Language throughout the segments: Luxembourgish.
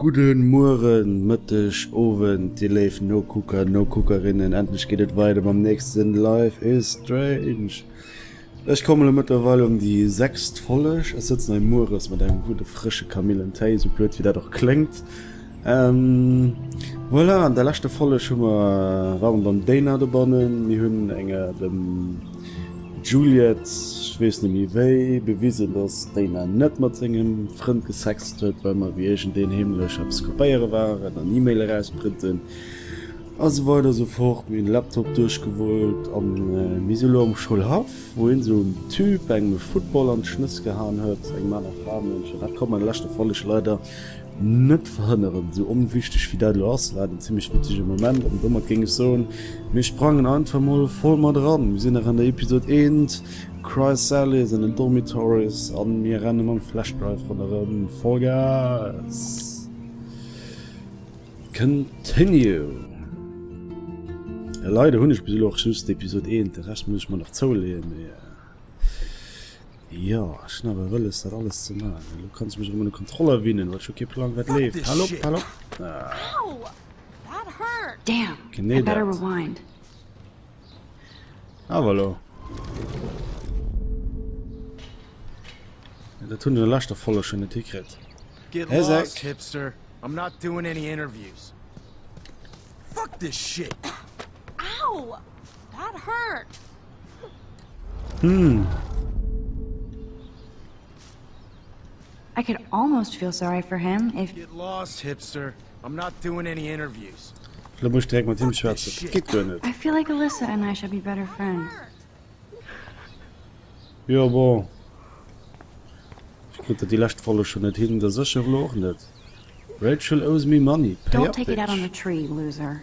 Gudde Mueren, Mëtteg, Owend dir léif Nokucker, Nokuckerinnen, endlech geet et weider mam nächsten Life is Strange. Ech kommen elo mëttlerweil ëm déi sechst Folleg. Ech sëtzen hei mueres mat engem gudde frësche Kamillentéi, esou blöd wéi dat och kléngt. Voilà, an der leschter Folleg hu mer, ware mer beim Déiner dobannen, mir hunn enger dem. D'Juliette, ech weess net méi wéi, bewisen, datt d'Dana net mat sengem Frënd gesext huet, well mer wéi iergendeen heemlech eppes kopéiere waren an E-Mail erausprënten a sou weider esou fort. Mir hunn de Laptop duerchgewullt an mir si elo am Schoulhaff, wou een esou engem Typ engem e Football an d'Schnëss gehaen huet. Engem aner Fraemënsch. Dat konnt mer an der leschter Folleg leider Net verhënneren. Sou onwichteg wéi dat elo ass, war et en zimlech witzege Moment an domat géing ech soen, mir sprangen einfach mol voll mat eran. Mir sinn nach an der Episod eent, Chrysalis and the Dormitories, a mir renne mam Flashdrive ronderëm. Vollgas! Continue! Jo, leider hunn ech bis elo och just d'Episod eent, de Rescht muss ech mer nach zouleeën, mee. Jo, ech hunn awer wëlles dat alles ze man. Elo kann ech mech erëm un de Kontroller winnen, well ech hu kee Plang wat leeft. Hal op, hal op! Genee dat. Awer elo. Dat hunn an der leschter Folleg schonn net hikritt. Hä Säck? That hurt. Hm. I could almost feel sorry for him if Get lost, hipster. I'm not doing any interviews. Da muss ich direkt mit ihm schwätzen. Das geht gar nicht. I feel like Alyssa and I should be better friends. Ja, bon. Ich kriege die letzte Folge schon nicht hin, das ist schon auch nicht. Rachel owes me money. Pay Don't up, take bitch. it out on the tree, loser.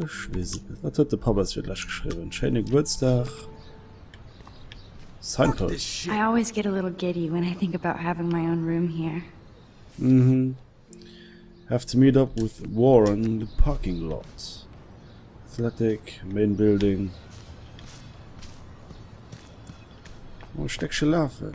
Ech weess et net. Wat huet de Papp eis fir d'lescht geschriwwen? Schéine Gebuertsdag. Signpost. I always get a little giddy when I think about having my own room here. Mhm. Have to meet up with Warren in the parking lot. Athletic, main building. Oh, Stéckche lafen.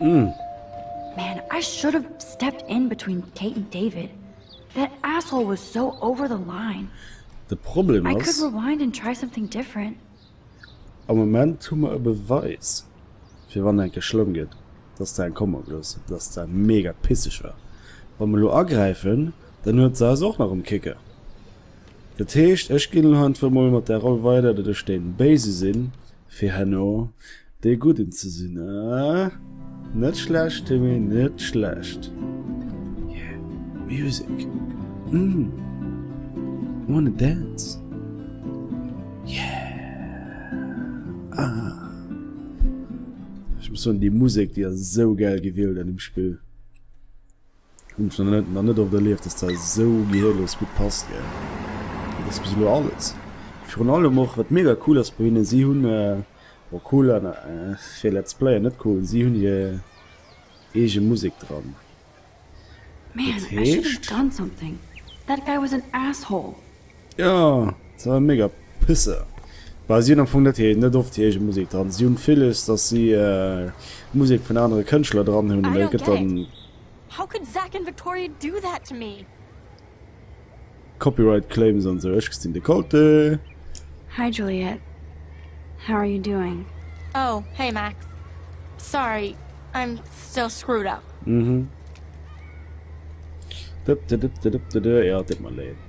Mm. Man, I should have stepped in between Kate and David. That asshole was so over the line. De Problem I could rewind and try something different. Am Moment hu mer e Beweis, fir wann enke schlëmm gëtt, dass se eng Komm ablooss, dass se mega pisseg war. Wa mer elo agräifen, dann huet se eis och nach um Kicke. Dat heescht, ech ginn elo einfach emol mat där Roll weider, datt ech dee Béise sinn. fir herno dee Gudden ze sinn, eh? Net schlecht, Timmy, net schlecht. Yeah, music. Mm. Wanna dance? Yeah. Ah. Ech muss soen, déi Musek, déi ass esou gäil gewielt an deem Spill. Hunn ech nach net oft erlieft, dass dat esou gehirlos gutt passt gell. Dat ass bis elo alles. Virun allem och wat mega cool ass bei hinnen, si hunn, bon cool an fir Let's Player net cool, si hunn hir eege Musek dran. Dat heescht. Ja, se war mega Pisser. Well si hunn am Fong net hir, net oft hir eege Musek dran. Si hunn villes, datt si Musek vun anere Kënschtler dran hunn, an dat gëtt dann Copyright Claims an esou. Ech gestin de Colte. Hi Juliette, how are you doing? Oh hey Max, sorry I'm still screwed up. Dëpdëdëpdëdëpdëdë, jo et deet mer leed.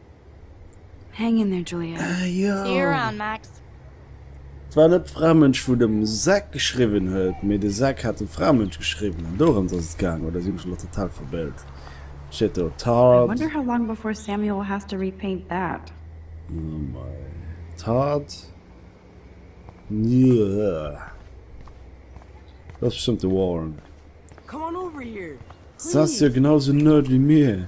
Hang in there Julia, see you around Max. Et war net d'Framënsch wou dem Zack geschriwwen huet, mee de Zack hat dem Framënsch geschriwwen an dorëms ass et gaang, oder sinn ech elo total verbéilt? Steet do Tard? Oh mei Tard Dat ass bestëmmt de Warren. S ass jo genau sou nerd wéi mir.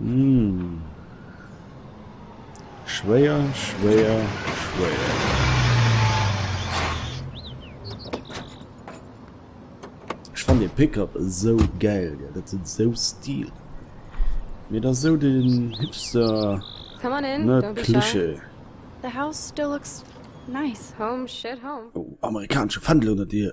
Uuhh schwéier schwéier schwéier. Ech fannt den Pickup esou gäil gell, dat huet esou Stil mee et ass esou den Hipster nerd Klischee. Ohh amerikanesche Fändel ënnert dir.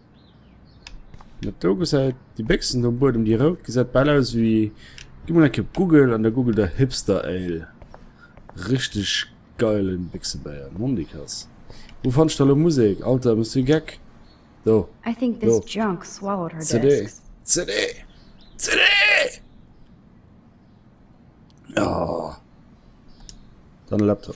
Dat do gesäit, déi Béchsen do um Buedem, déi rout, gesäit bal aus ewéi, gi mol eng Kéier op Google an da google der Hipster Ale. Richteg geilen Bichsebéier, Nondikass. Wou fannscht de elo Musek? Alter, bist du geck? Do, do. CD, CD, CD! Oh. Dann e Laptop.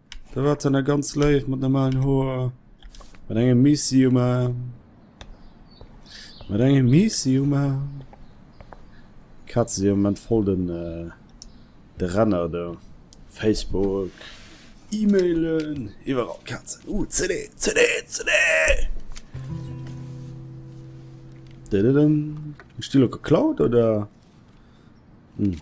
Da war dann ganz leif mat normalen Hoer. Mat engem Missi um Arm. Mat engem Missi um Arm. Katze si am Moment voll den, äh, de Renner do. Facebook, E-Mailen, iwwerall Katzen. Uh, CD, CD, CD! Dididin. Ech di lo geklaut, oder? Hm.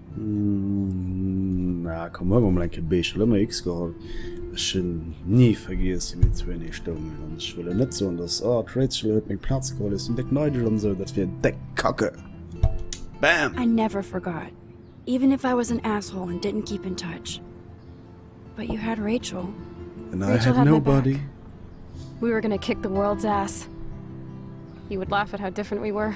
Na komm, huel mer mol eng Kéier Beesch. Elo hu mer X geholl. Ech hunn ni vergiess, wéi mir zwee enee stoungen. An ech wëll elo net soen, dass, oh, d'Rachel huet meng Plaz geholl, ech sinn déck neideg an esou. Dat wier déck kacke. Bam! I never forgot, even if I was an asshole and didn't keep in touch. But you had Rachel. And I had nobody. We were gonna kick the world's ass. You would laugh at how different we were.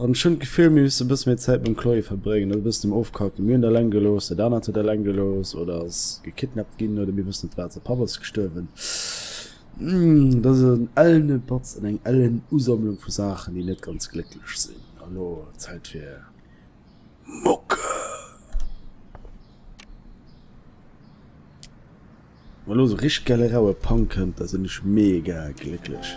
An ech hunn d'Gefill, mir misste e bësse méi Zäit mam Chloé verbréngen, net e bëssen em ofkacken. Mir hunn d'Alain gelooss, dat anert huet Alain gelooss oder ass gekidnappt ginn oder mir wëssen net wat. Säi Papp ass gestuerwen. Dat ass en ellene Batz an eng ellen Usammlung vu Saachen, déi net ganz glécklech sinn. An elo Zäit fir Mucke! Wa elo esou richteg gäile raue Punk kënnt, da sinn ech mega glécklech.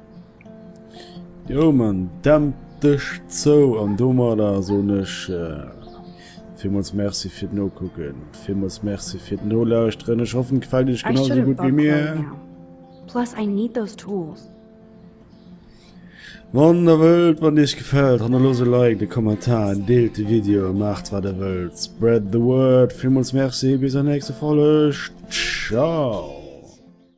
Jo man, dämp dech zou an domadder so nech äh, Villmools Merci fir d'Nokucken, villmools Merci fir d'Nolauschteren. Ech hoffen d'gefält iech genau sou gutt wéi mir. Plus I need those tools. Wann der wëllt, wann iech gefält, hannerlos e Like, de Kommentar, deelt de Video, maacht wat der wëllt. Spread the word. Villmools Merci, bis an nächste Folge. Ciao.